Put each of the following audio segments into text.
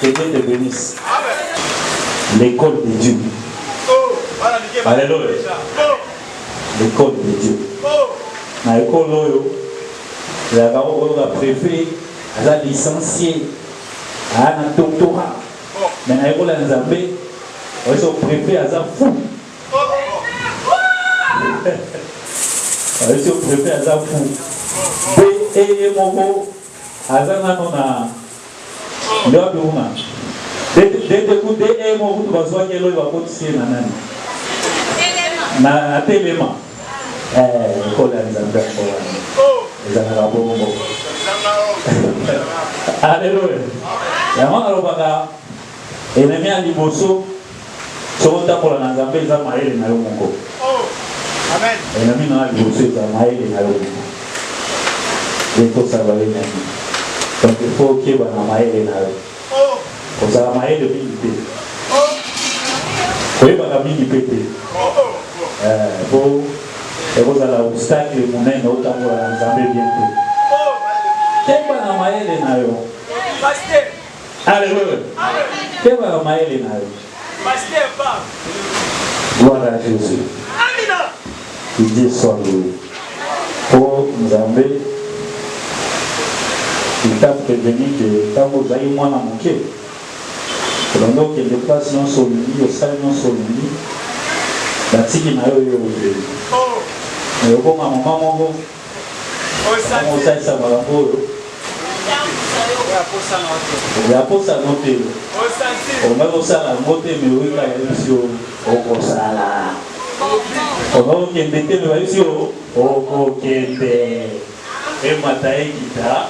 Que Dieu te bénisse. L'école de Dieu. Alléluia. L'école de Dieu. Na ekolo oyo ezalaka oyo ba préfet aza licencié aya na doctorat me na ekola ya nzambe oyeso préfet aza fou oyeso préfet aza fou be eye moko Aza nano na Lord Woman. Dede ku DE mo kutu bazwaki eloyi bakotisi ye na nani? Na atelema. Eh, lokola ya Nzambe yango wana. Ezalaka bongo. Aleluya. Yango nalobaka enemi ya liboso Soki otambola na Nzambe eza mayele na yo moko. Eh, na mino na liboso eza mayele na yo moko. Ekosaba ye na nini? Donc il faut okeba na mayele na yo. Kozala mayele mingi te. Koyebaka mingi mpe te. Eh, po ekozala obstacle monene otambola na Nzambe bien te. Keba na mayele na yo. Alléluia. Keba na mayele na yo. Pasteur Bab. Gloire à Jésus. Amina. Que Dieu soit loué. Oh Nzambe, il t'a prévenu que ntango ozali mwana moke olanda okende place nyonso olingi osali nyonso olingi batiki na yo yo obeli mais oboma mama moko osalisa makambo oyo ya posa no te omai kosala yango te me oyekala yebisi yo okosala omai kokende te me bayebisi yo okokende emata ekita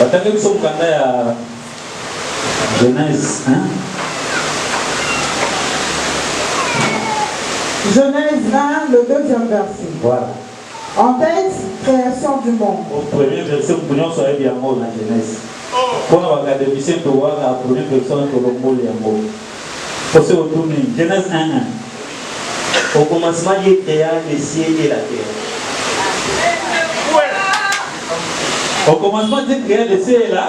batangi biso mokanda ya genèse genèse 1 le deuxième verset voilà En fait, creation du monde. Au premier verset, moto nyonso ayebi yango na Genèse. Mpo na bakademisien towaka a premier personne tolongoli yango. Mpo se otuni Genèse 1:1. Au commencement Dieu crea le ciel et la terre. Au commencement Dieu crea le ciel et la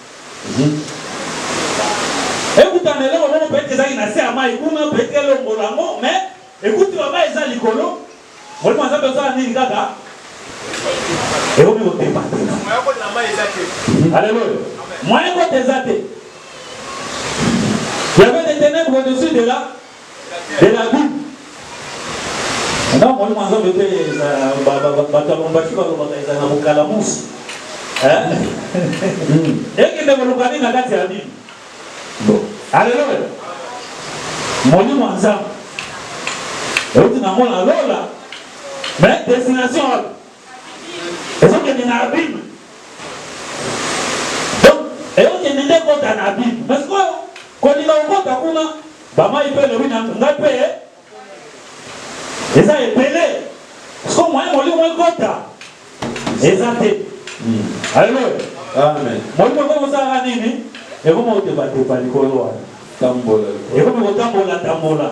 ekutana eloko moko pete ezalaki na se ya mai kuna pete elongola yango me ekuti bamai eza likolo molimo nzambe osala nini kaka ekomi kotemba aleluya moyen kote eza te yavede tenèbre au-dessus de la de la bible nga molimo ya nzambe mpe bato ya lombashi balobaka ezala na bokalamusi ekende koluka nini na kati ya bible aleluya molimo ya nzambe euti nango na lola me destination wapi ezokende na abime donc eyokende nde ekota na abime mais sikoyo kolinga kokota kuna bamai mpe elobi na ngai mpe eza ebele sikoyo moye molimo ekota eza te hmm. aleluya molimo ekoki kosalaka nini ekomi kotebatepa likolo wana ekomi kotambola tambola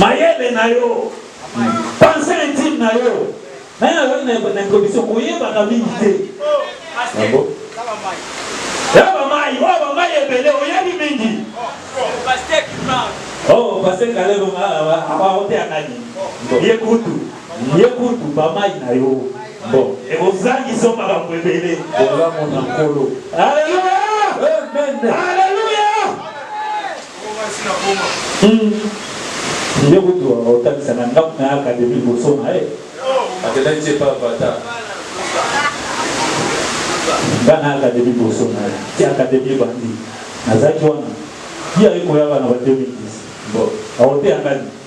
mayele na yo pense intime na yo naye ayoki na introduction koyebaka mingi te ya bamai oyo bamai ebele oyebi mingi o pase kalelo abaoteyaka nini ye kutu Ye kutu ba mayi na yo bon. Ekozangisa yo makambo ebele. Bolamu na Nkolo. Alleluia! Amen. Alleluia! Ye kutu otangisa na ndaku na ye academie liboso na ye. Akendaki ti epa Avatar. Nga na academie liboso na ye. Ti academie ebandi nazalaki wana. Ye aye koya awa na ba 2010. Bon. Akoteya nga nini?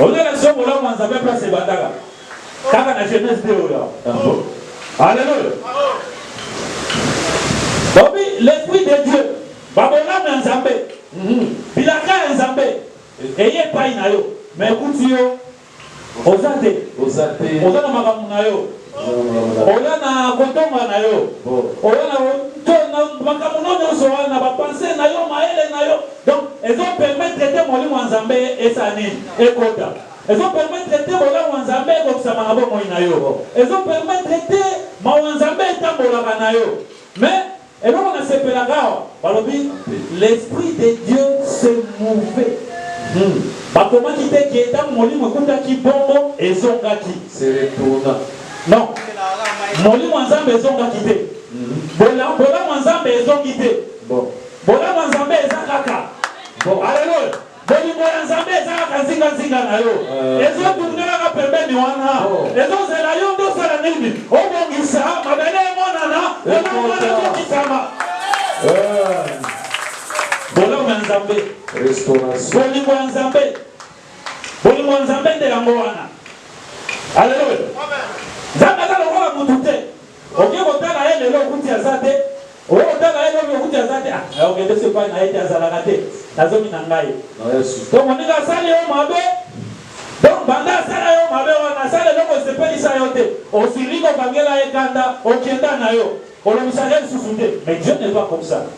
Oza na soko la mwanza pe place ebandaka. Kaka na jeunesse de oya. Alléluia. Bobi l'esprit de Dieu. Babolamu ya Nzambe. Mhm. Bilaka ya Nzambe. Eye epai na yo. Mais ekuti yo oza te. Oza te. Oza na makambo na yo. Oza na kotonga na yo. Oza na makambo nyonso wana, bapense na yo, mayele na yo. Donc ezo permettre te molimo ya Nzambe esala nini? Ekota. Ezo permettre te bolamu ya Nzambe ekokisama na bomoi na yo. Ezo permettre te mawa ya Nzambe etambolaka na yo. Mais eloko na sepelaka awa, balobi l'esprit de Dieu se mouvait. Hum bakomaki te que tango molimo ekutaki bongo ezongaki. Se retourna. Non. Molimo ya Nzambe ezongaki te. Bolamu ya Nzambe ezongi te. Bon. Bolamu ya Nzambe eza kaka. Bon, Alléluia. Bolingo ya Nzambe eza kaka nzinga nzinga na yo. Euh. Ezo tourner kaka pembeni wana. Ezo zela yo ndo sala nini? Obongisa mabele emonana, wana wana kokisama. Euh. Bolamu ya Nzambe. Restauration. Bolingo ya Nzambe. Bolingo ya Nzambe nde yango wana. Alléluia. Amen. Nzambe aza lokola mutu te. Oke kotala ye lelo okuti aza te, oye kotala ye lobi okuti aza te, ah nayo kende so epai na ye te azalaka te na zomi na ngai. To moninga asali yo mabe donc banda asala yo mabe wana asala eloko esepelisa yo te osiliki obangela ye kanda okenda nayo olobisaka ye lisusu te mais Dieu n'est pas comme ça.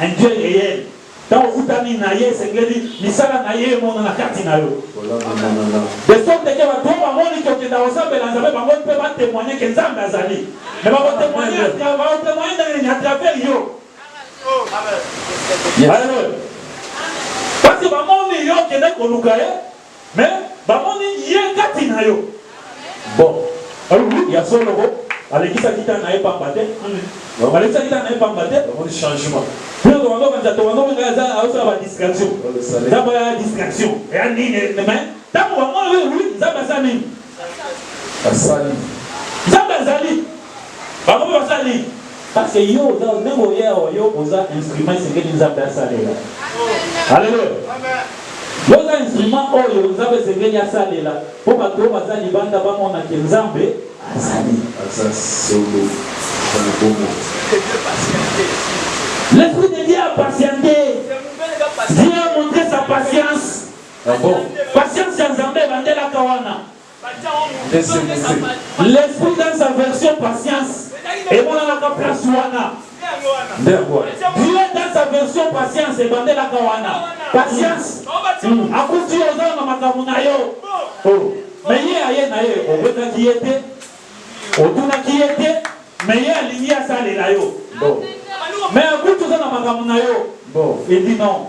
Un Dieu reel, tango okutani na ye esengeli misala na ye emonana kati na yo. De sorte que batu oyo bamoni que okenda kosambela Nzambe bango mpe ba temoigner que Nzambe azali. Mais bako temoigner bako temoigner ndenge nini? A travers yo. Aleluyah. Parce que bamoni yo okendaki koluka ye. Mais bamoni Ye kati na yo. Bon. Oui, ya solo ko. Alekisaki temps na ye pamba te. Alekisaki temps na ye pamba te. Bamoni changement. Bino tokondo kanisa tokondo kanisa aza azosala ba distraction. Nzambe aya distraction. Eya nini mais tango bamoni oui Nzambe asala nini? Basali. Nzambe azali. Bango mpe basali. Parce que yo oza ndenge oye awa yo oza instrument esengeli Nzambe asalela. Alléluia. Yo oza instrument oyo Nzambe esengeli asalela mpo bato oyo baza libanda bamona ke Nzambe azali. Aza solo. Aza na bomoi. L'esprit de Dieu a patiente. Dieu a montre sa patience. Ah bon? Patience ya Nzambe ebandelaka wana. L'esprit dans sa version patience emonanaka place wana. Dieu dans sa version patience ebandelaka wana. Patience hmm. akuti yo oza na makambo na yo. Oh. Me ye aye na ye obetaki ye te, otunaki ye te, me ye alingi asalela yo. Me akuti oza na makambo na yo. Bon, il dit non.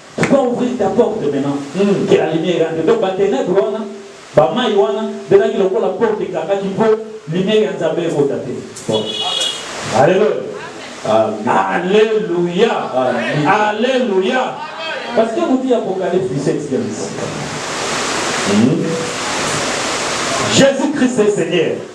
Tu dois ouvrir ta porte maintenant que la lumière entre donc ba tenèbres wana ba mayi wana ezalaki lokola porte ekangaki po lumière ya Nzambe ekota te bon Alleluia. Alleluia Alleluia parce que botiye Apocalypse 17 ya misika Jesus Christ est Seigneur.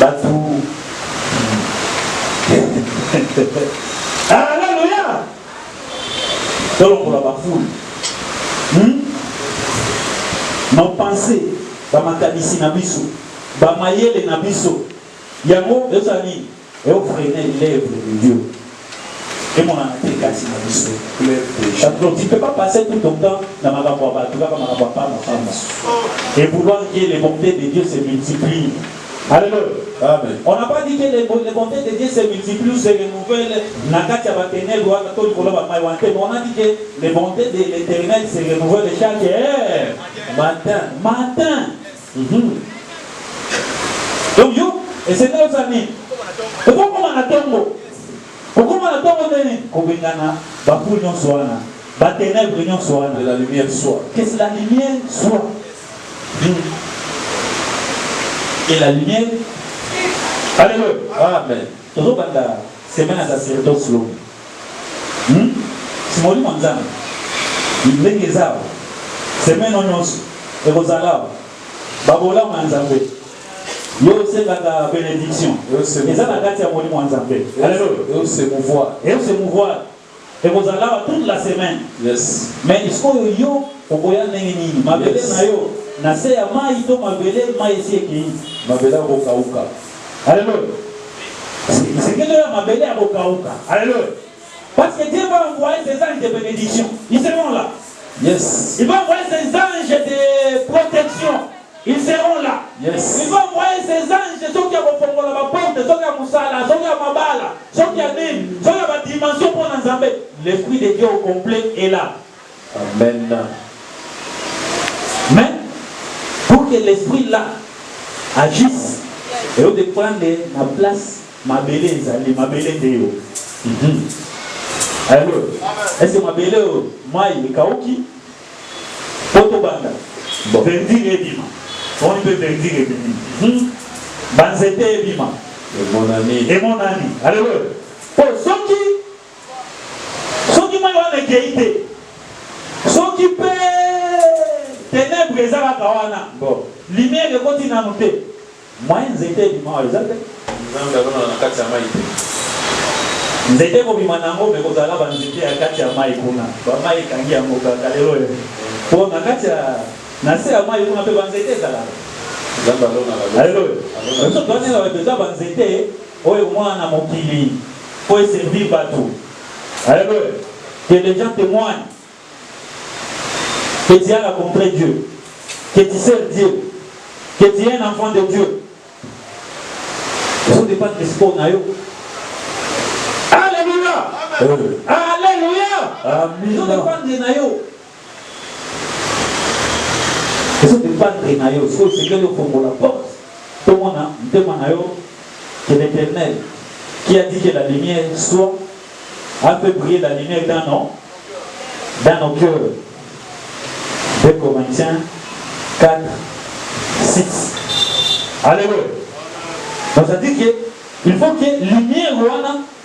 Batu. Alléluia. Tolongola ba foule. Hmm? Nos pensées, ba makanisi na biso, ba mayele na biso. Yango ezali Eo freiner l'oeuvre de Dieu. Emonana te kati na biso. Parce que tu peux pas passer tout ton temps na makambo ya bato kaka makambo ya pamba pamba. Et vouloir que les bontés de Dieu se multiplient. Alléluia. Amen. On n'a pas dit que les, les bontés de Dieu se multiplient ou se renouvellent na kati ya ba ténèbres wana to likolo ya ba mai wana te. Mais on a dit que les bontés de l'éternel se renouvellent chaque heure. Matin. Matin. Uhmm donc yo esengeli osala nini okokoma na tongo kokoma na tongo nde nini kobengana ba fou nionso wana ba tenèbres nionso wana que la lumière soit que la lumière soit uhmm que la lumière Alléluia amen tozobanda semaine ya sacerdoce lobi. Hum? Si molimo ya Nzambe ndenge eza awa, semaine oyo nyonso ekozala awa, ba bolamu ya Nzambe. Yo osengaka benediction, eza na kati ya molimo ya Nzambe. Alléluia. Et au se mouvoir. Et au se mouvoir. Ekozala awa toute la semaine. Yes. Mais sikoyo yo okoya ndenge nini? Mabele na yo na se ya mayi to mabele mayi esi ekei? Mabele akokauka. Alléluia. Sekele ya mabele ya kokauka. Alléluia. Parce que Dieu va envoyer ses anges de bénédiction. Ils seront là. Yes. Il va envoyer ses anges de protection. Ils seront là. Yes. Il va envoyer ses anges soki ya kofongola baporte, soki ya mosala, soki ya mabala, soki ya nini, soki ya badimension mpo na Nzambe. L'esprit de Dieu au complet est là. Amen mais pour que l'esprit là agisse et au dépendre na place mabele ezali mabele nde yo mhm. allo ese mabele oyo mai ekauki mpo tobanda verdire ebima omoni mpe verdire ebimi mhm. banzete ebima emonani emonani aleluya mpo soki Soki mai wana ekei te, soki mpe tenebre eza kaka wana, lumière ekoti nanu te, moyen nzete ebima awa eza te. Nzambe alona na kati ya mai te. Nzete ekobima na yango, mais ekozala na ba nzete ya kati ya mai kuna. Ba mai ekangi yango kaka lelo eh. Po na kati ya na se ya mai kuna mpe ba nzete ezalaka. Nzambe alonaka. Aleluya. Biso toanela bato eza ba nzete Oyo mwana na mokili po e servir batu. Alleluia que les gens temoignent que tu as rencontre Dieu que tu sers Dieu que tu es un enfant de Dieu. Ezo dependre de sport na yo. Alleluia. Alleluia. Ezo dependre na yo. ezo dependre na yo soki osengeli ofongola porte tomona motema na yo que l'éternel qui a dit que la lumière soit a fait briller la lumière dans nos dans nos cœurs 2 Corinthiens 4 6 Alléluia donc ça dit que il faut que lumière wana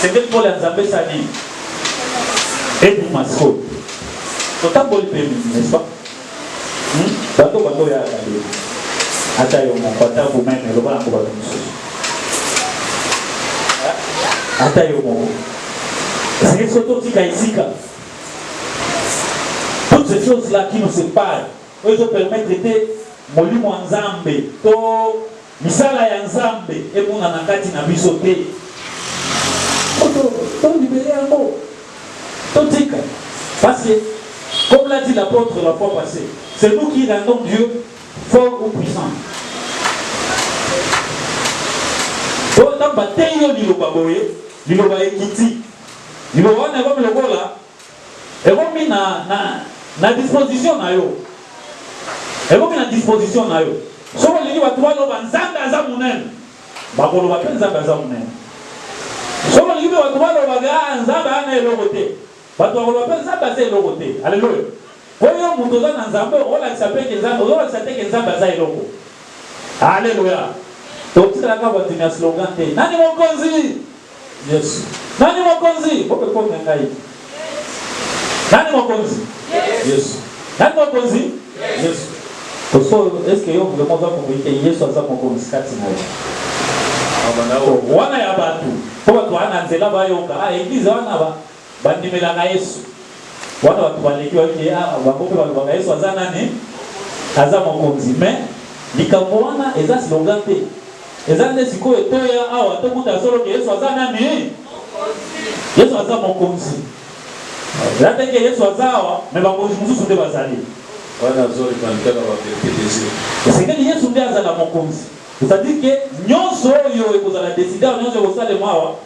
Sengeli pole ya Nzambe sa nini? Ebuma sikoyo. Otamboli pe mingi, n'est-ce pas? Hmm? Bato bato ya Nzambe. Ata yo moko, ata vous-même, loba na bato mosusu. Ata yo moko. Sengeli soki totika esika. Toutes ces choses-là qui nous séparent, oyo ezo permettre te molimo ya Nzambe to Misala ya Nzambe emonana kati na biso te. Faut to to liberer yango. To tika. Parce que comme l'a dit l'apôtre la fois passee, c'est nous qui rendons Dieu fort ou puissant. To ntango bateyi yo liloba boye, liloba ekiti. Liloba wana ekomi lokola. Ekomi na, na, na disposition na yo. Ekomi na disposition na yo. Soki olingi bato baloba Nzambe aza monene, bakoloba mpe Nzambe aza monene. Soki olingi mpe bato baloba ke ah, Nzambe aza na eloko te, bato bakoloba mpe Nzambe aza eloko te. Aleluya! Mpo yo moto oza na Nzambe, okolakisa mpe ke Nzambe, okolakisa te ke Nzambe aza eloko. Aleluya! Totikala kaka bato ya slogan te. Nani mokonzi? Yesu. Nani mokonzi? Bokekome ngai. Nani mokonzi? Yesu. Nani mokonzi? Yesu. Koso, est-ce que yo vraiment oza komoyi te Yesu aza mokonzi kati na yo? Wana ya bato, mpo bato wana nzela bayoka, ah eglise wana ba Bandimelaka Yesu. Wana bato baleki bayoki ete, ah, bango mpe balobaka Yesu aza nani? Aza Mokonzi. Mais, likambo wana eza slogan te. Eza nde sikoyo toya awa tokuta solo ke Yesu aza nani? Yesu aza Mokonzi. Eza te ke Yesu aza awa, mais bakonzi mosusu nde bazali. Wana azoleka nte na baverite des yeux. Esengeli Yesu nde azala Mokonzi. C'est-à-dire ke nyonso oyo ekozala decide awa, nyonso ekosalema awa,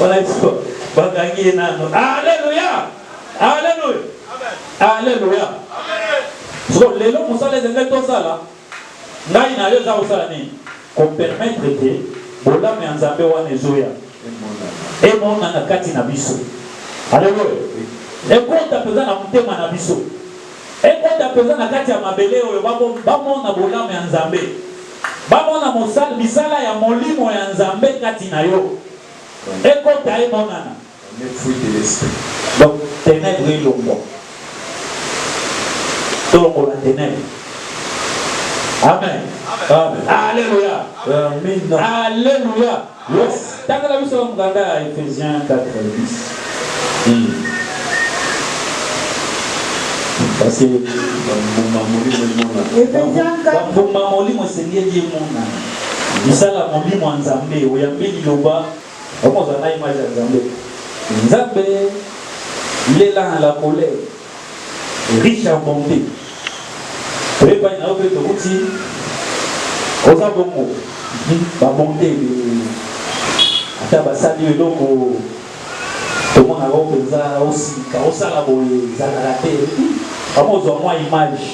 Wanaiswa bakangi ye nano. Aleluya! Aleluya! Aleluya! So lelo mosala ezali tosala ngai na yo eza kosala nini? Kopermettre te bolamu ya Nzambe wana ezoya emonana kati na biso. Aleluya! Ekota mpenza na motema na biso, ekota mpenza na kati ya mabele oyo bamona bolamu ya Nzambe. Bamona mosal misala ya Molimo ya Nzambe kati na yo. Ekota, emonana. Donc, tenèbres elongwa. Tolongola tenèbres. Amen. Amen. Alléluia. Amen. Alléluia. Yes, tangela biso mukanda ya Ephesiens 4, 10. Hum. Parce que bambuma molimo emonana. Ephesiens 4. Bambuma molimo esengeli emonana. Misala molimo ya Nzambe, oyambi liloba, okozala na image ya Nzambe. Nzambe, il est là en la colère. riche en bonte oye pai na yo mpe tokuti oza bongo babonte ata basali yo eloko tomonaka yo mpenza osika osala boye ezalaka te bango ozwa mwa image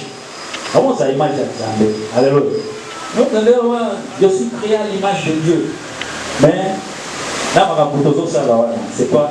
bango oza image ya nzambe aleluya nokelewa je suis créé à l'image de dieu mais na makambo tozosala wana c'est quoi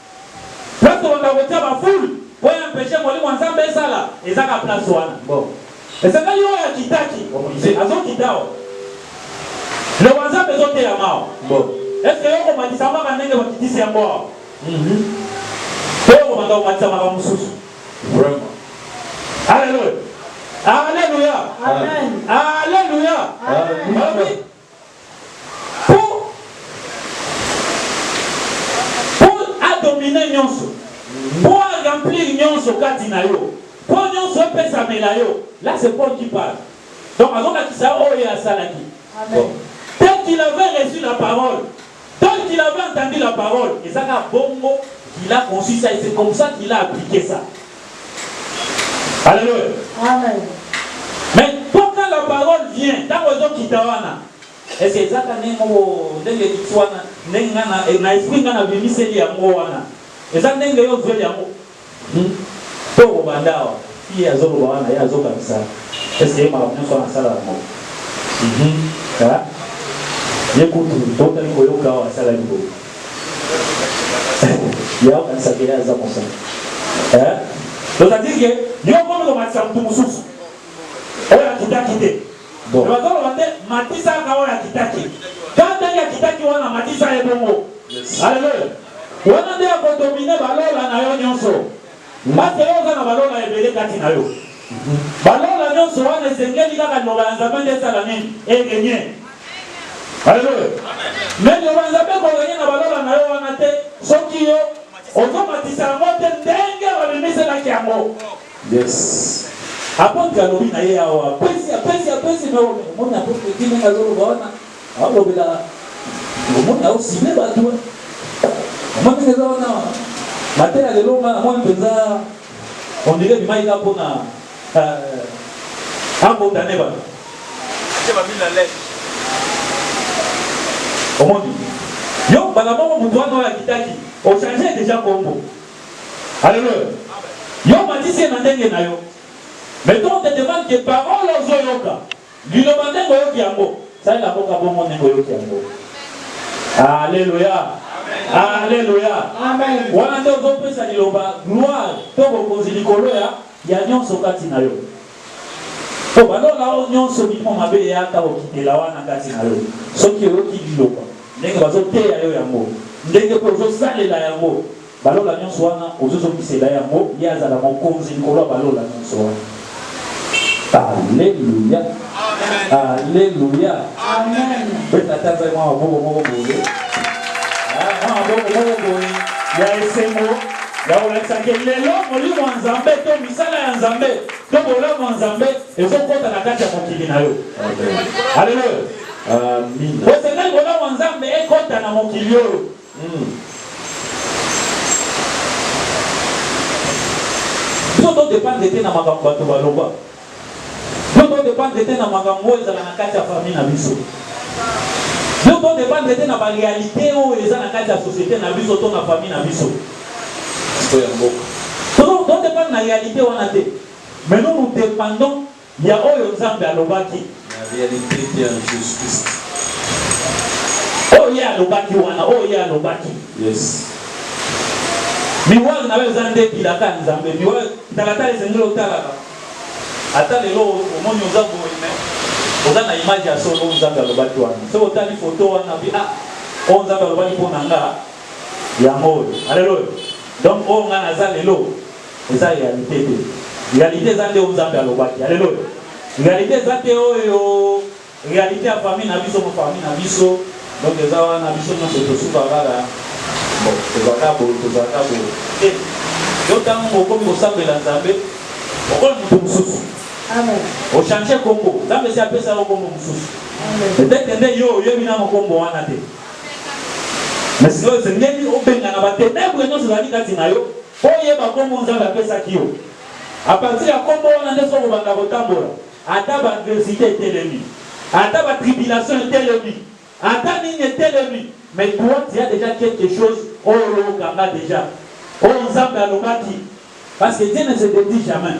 Place tokobanda kotia ba foule po e empecher molimo ya Nzambe esala eza ka place wana bon esengeli oyo akitaki omonise azo kita awa liloba ya Nzambe ezo teyama awa bon est ce que yo okomatisa yango kaka ndenge bakitisi yango awa hum to okobanda komatisa makambo mosusu vraiment Alleluia Alleluia Amen Alleluia Alleluia po po a dominer nionso po a remplir nionso kati na yo po nionso epesamela yo là c'est Paul qui parle donc azolakisa yo oyo ye asalaki bon tel qu'il avait reçu la parole Tant qu'il avait entendu la parole, eza kaka bongo qu'il a conçu ça et c'est comme ça qu'il a applique ça. Alléluia. Amen. Mais quand la parole vient, tango ezo kita wana, est-ce que eza kaka ndenge moko ndenge ekiti wana, ndenge nga na esprit nga na bimiseli yango wana, eza ndenge yo ozueli yango? Hum to ko banda awa fille azo loba wana ye azo kanisa est ce que ye makambo nionso wana asala yango hum ha ye kutu to tali ko yoka awa asala ki boye ye ako kanisa ke ye aza mosali eh donc ça dit que yo ko ko matisa mutu mususu oyo akitaki te bon bazo loba te matisa ka oyo akitaki quand ndenge akitaki wana matisa ye bongo yes. Hallelujah. Wana nde ako dominer ba lola na yo nionso. Nga te yo oza na ba lola ebele kati na yo. Ba lola nionso wana esengeli kaka liloba ya Nzambe nde esala nini? E regner. Alleluia. Mais liloba ya Nzambe eko regner na ba lola na yo wana te soki yo ozo matisa yango te ndenge ba bimiselaki yango. Yes. Apotre alobi na ye awa, apesi, apesi, apesi, mais omoni apotre Guy ndenge azo loba wana. Alobela omoni au signe bato omoni eza wana mateya lelo nga namoni mpenza ondire bimai ka mpona abondane bato omoni yo mbala moko moto wana oyo akitaki ochange deja kombo aleluya yo matisi ye na ndenge na yo mais to te demande ke parole ozoyoka Liloba ndenge oyoki yango, salela mboka bongo ndenge oyoki yango. Alleluia. Alleluia. Wana nde ozopesa liloba gloire to bokonzi likolo ya ya nyonso kati na yo. Po balola oyo nyonso milimo mabe eyaka kokitela wana kati na yo. Soki oyoki liloba ndenge bazoteya yo yango, ndenge pe ozosalela yango, Balola nyonso wana ozo zongisela ye yango ye azala mokonzi likolo ya balola nyonso wana alleluia alleluia beta ata nzai mwa maboko moko boye ah, mwa maboko moko boye ya esengo ya kolakisa ke lelo molimo ya nzambe to misala ya nzambe to bolamu ya nzambe ezokota na kati ya mokili na yo alleluia bosengeli bolamu ya nzambe ekota na mokili oyo Biso to dependre te na makambo bato baloba. Biso to dependre te na makambo oyo ezala na kati ya famille na biso. Biso to dependre te na ba realite oyo eza na kati ya societe na biso to na famille na biso. To dependre na realite wana te mais nous nous dependons Ya oyo Nzambe alobaki. La realite qui est en Jesus Christ. Oyo Ye alobaki wana, oyo Ye alobaki. Yes. Miroir na yo eza nde bilaka ya Nzambe. Miroir, talatala esengeli otalaka. Ata lelo omoni oza boye mais oza na image ya solo oyo Nzambe alobaki wana. Soki otali photo wana bi ah oyo Nzambe alobaki mpo na nga yango oyo. Alléluia. Donc oyo nga naza lelo Eza realite te. Realite eza te oyo Nzambe alobaki. Alleluia. Realite eza te oyo realite ya famille na biso, famille na biso. Donc eza wana biso nionso tosuka kaka bon tozala kaka boye tozala kaka boye te. Yo tango okomi kosambela Nzambe okomi moto mosusu. Amen. Ochange kombo. Nzambe si apesa yo kombo mosusu. Peut-être nde yo oyebi nano kombo wana te. Mais sikoyo esengeli obengana ba tenebre nyonso ezali kati na yo Mpo oyeba nkombo Nzambe apesaki yo. A partir ya nkombo wana nde soki okobanda kotambola, ata ba adversite etelemi, ata ba tribulation etelemi, ata nini etelemi, mais toi tu as dejà quelque chose oyo okanga dejà, oyo Nzambe alobaki, parce que Dieu ne se detruit jamais.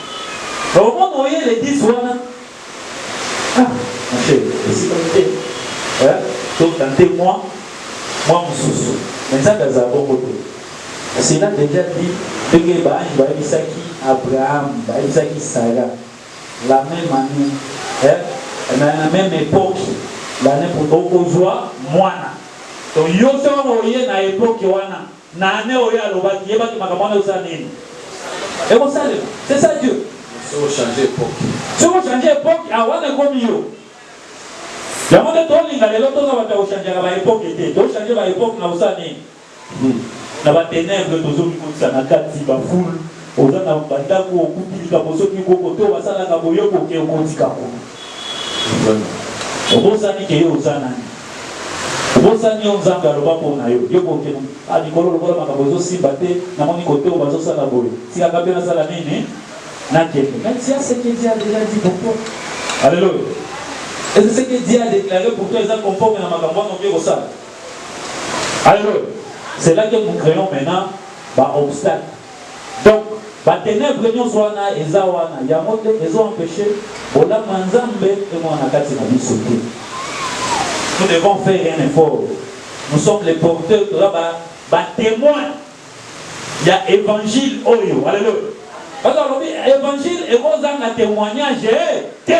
Omona oye l'église wana ah ma chérie esika te eh to tenter moi moi mosusu mais Nzambe azala bongo te cela déjà dit ndenge baange bayebisaki Abraham bayebisaki Sara la même année eh na la même époque l'année pour okozwa mwana to yo soki oye na époque wana Na annee oyo alobaki yeba ke makambo wana ekosala nini? Ekosalema c'est ça Dieu. Mais soki o changer epoque. Soki o changer epoque ah wana ekomi yo. Yango nde tolinga lelo toza batu ya ko changaka ba epoque te. To changer ba epoque na kosala nini? Na ba tenèbres tozo mikotisa na kati ba foule. Oza na ba ndaku okuti likambo soki koko to basalaka boye yo koke okotika ko vraiment obosani ke yo oza nani obosani yo nzambe aloba po na yo yo koke na ah likolo lokola makambo ezo simba te na moni kote oyo bazo sala boye tika nga pe na sala nini na kende mais tia ce que Dieu a dejà dit pour toi alléluia est ce que Dieu a déclaré pour toi eza conforme na makambo wana oke kosala alléluia c'est là que nous créons maintenant ba obstacles Donc ba tenèbres nionso wana eza wana yango nde ezo empecher bolamu ya Nzambe emonana kati na biso te. Nous devons faire un effort, nous sommes les porteurs, toza ba ba temoins ya evangile oyo. Alleluia! Parce que balobi evangile eko zanga temoignage te.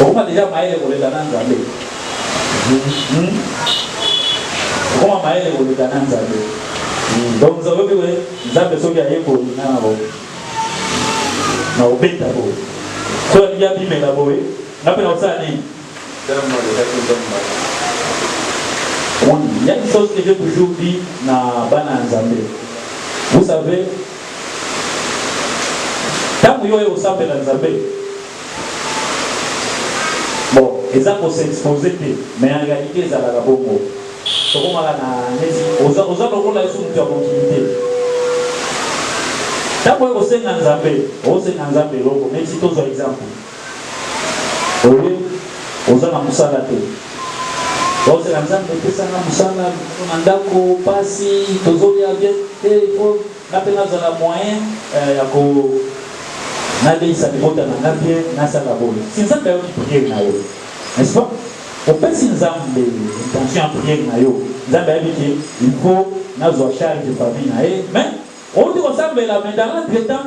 okoma deja mayele koleka na nzambe hmm? okoma mayele koleka na nzambe hmm. donc nzambe obi boye nzambe soki ayekoli nga na boye na obeta boye soki alingi abimela boye nga mpe nakosala nini il y a une chose que j'ai toujours dit na bana ya nzambe vous savez Tango yo oye kosambela Nzambe bon eza ko s'exposer te mais en realite ezalaka bongo tokomaka na neti oza oza lokola yesu mutu ya mokili te tango oye kosenga Nzambe osenga Nzambe eloko neti tozwa exemple Oye oza na musala te ozela nzambe epesa nga musala na ndako pasi tozolia bien te il faut nga pe nazala moyen eh, ya ko naleisa libota na nga bien nasala boye si nzambe ayoki priere na yo n'est-ce pas opesi nzambe intention ya priere na yo nzambe ayebi ke il faut nazwa charge famille na ye mais outi kosambela mais dans l'entretemps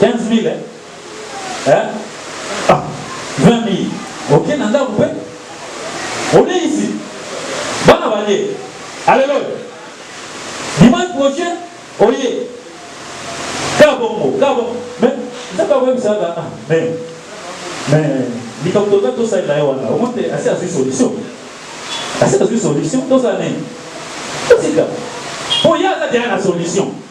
15000 hein ah 20000 oke na ndako mpe oleisi bana balie aleloya dimanche prochain oye kabongo kabongo me nzambe akoyebisaka ah me me likambo toza tosalela ye wana omo te asi azwi solution asi azwi solution tozala nini totika mpo ye aza deya na solution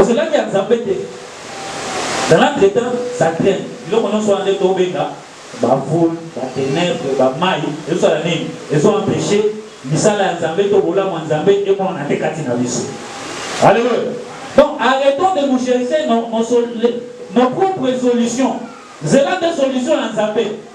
Ozelaki ya Nzambe te. Dans l'entretemps, ça traîne. Biloko nyonso wana nde tobenga ba foule, ba tenèbres, ba mayi, ezosala nini? Ezo empecher misala ya Nzambe to bolamu ya Nzambe emonana te kati na biso. Alléluia. Donc arrêtons de nous chercher nos, nos, nos propres solutions. Zela nde solution ya Nzambe.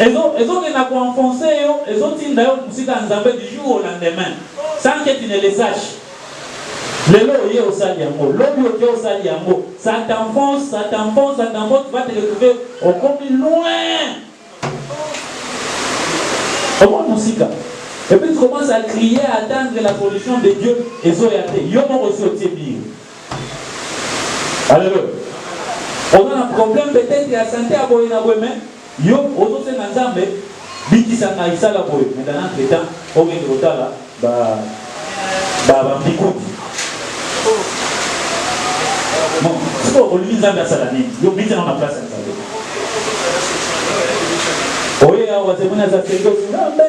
Ezo ezo kende ko enfoncer yo, ezo tinda yo musika ya Nzambe du jour au lendemain sans que tu ne le saches. Lelo oye osali yango, lobi oke osali yango, ça t'enfonce, ça t'enfonce, ça t'enfonce, tu vas te retrouver okomi loin. Okomi musika. Et puis tu commences à crier, à attendre la solution de Dieu, ezoya te. Yo moko osi otie biye. Alléluia. On a un problème peut-être ya santé ya boye na boye mais yo ozosenga Nzambe bikisa ngai sala boye mais dans notre temps okende kotala ba ba ba mbikuti bon siko olingi Nzambe asala nini yo bikisa na place ya Nzambe oye awa zemoni aza senge Nzambe